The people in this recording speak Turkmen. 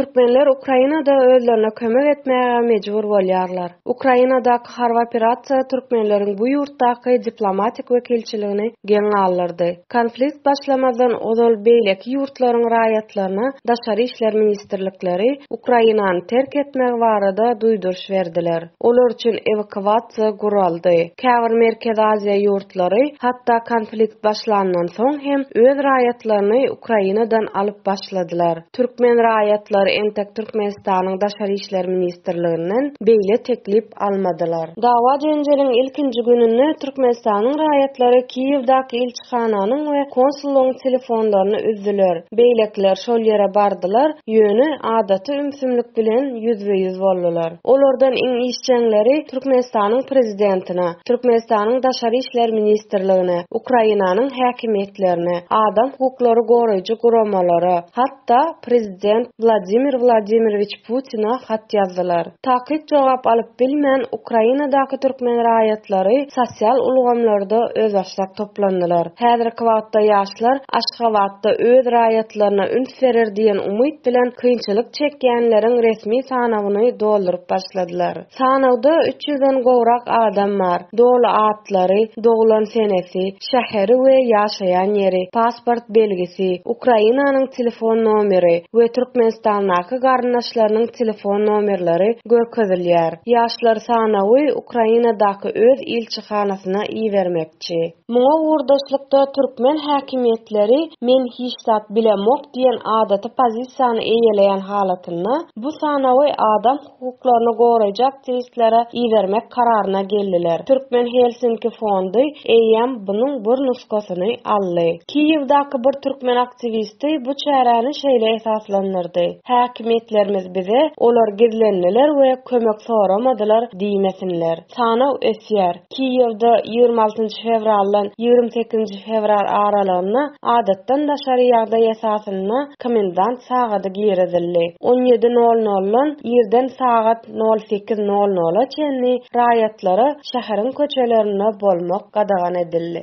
Türkmenler Ukrainada özlerine kömek etmäge mejbur bolýarlar. Ukrainadaky harby operasiýa türkmenleriň bu ýurtdaky diplomatik wekilçiligini geň galdyrdy. Konflikt başlamazdan ozal beýleki ýurtlaryň raýatlaryna daşary işler ministrlikleri Ukrainany terk etmegi barada duýduryş berdiler. Olar üçin ewakuasiýa guraldy. Käbir Merkezi Aziýa ýurtlary hatda konflikt başlandan soň hem öz raýatlaryny Ukrainadan alyp başladylar. Türkmen raýatlary entek Türkmenistanyň Daşary işler ministrliginden beýle teklip almadylar. Dawa-jenjeliň ilkinji gününde Türkmenistanyň raýatlary Kiýewdaky Hananyň we konsullygyň telefonlaryny üzdüler. Beýlekiler şol ýere bardylar, ýöne adaty ümsümlik bilen ýüzbe-ýüz boldular. Olardan iň işjeňleri Türkmenistanyň prezidentine, Türkmenistanyň Daşary işler ministrligine, Ukrainanyň häkimiýetlerine, adam hukuklary goraýjy guramalara, hat, hatda prezident Wladimir Wladimirwiç Putina hat ýazdylar. Takyk jogap alyp bilmän, Ukrainadaky türkmen raýatlary sosial ulgamlarda özbaşdak toplandylar. Häzirki wagtda ýaşlar Aşgabatda öz raýatlaryna üns berer diýen umyt bilen kynçylyk çekýänleriň resmi sanawyny dolduryp başladylar. Sanawda üç ýüzden gowrak adam bar, doly atlary, doglan senesi, şäheri we ýaşaýan ýeri, pasport belgisi, Ukrainanyň telefon nomeri we Türkmenistandaky garyndaşlarynyň telefon nomerleri görkezilýär. Ýaşlar sanawy Ukrainadaky öz ilçihanasyna ibermekçi. Muňa ugurdaşlykda türkmen häkimiýetleri men hiç zat bilemok diýen adaty pozisiýany eýeleýän halatynda bu sanawy adam hukuklaryny goraýjy aktiwistlere ibermek kararyna geldiler. Türkmen Helsinki fondy eýýäm bunuň bir nusgasyny aldy. Kiýewdaky bir türkmen aktiwisti bu çäräni şeýle esaslandyrdy, Häkimiýetlerimiz bize olar gizlendiler we kömek soramadylar diýmesinler. Sanaw ösýär. Kiýewde ýigrimi altynjy fewraldan ýigrimi sekizinji fewral aralygynda adatdan daşary ýagdaý esasynda komendant sagady girizildi. On ýedi nol noldan irden sagat nol sekiz nol nola çenli raýatlara şäheriň köçelerinde bolmak gadagan edildi.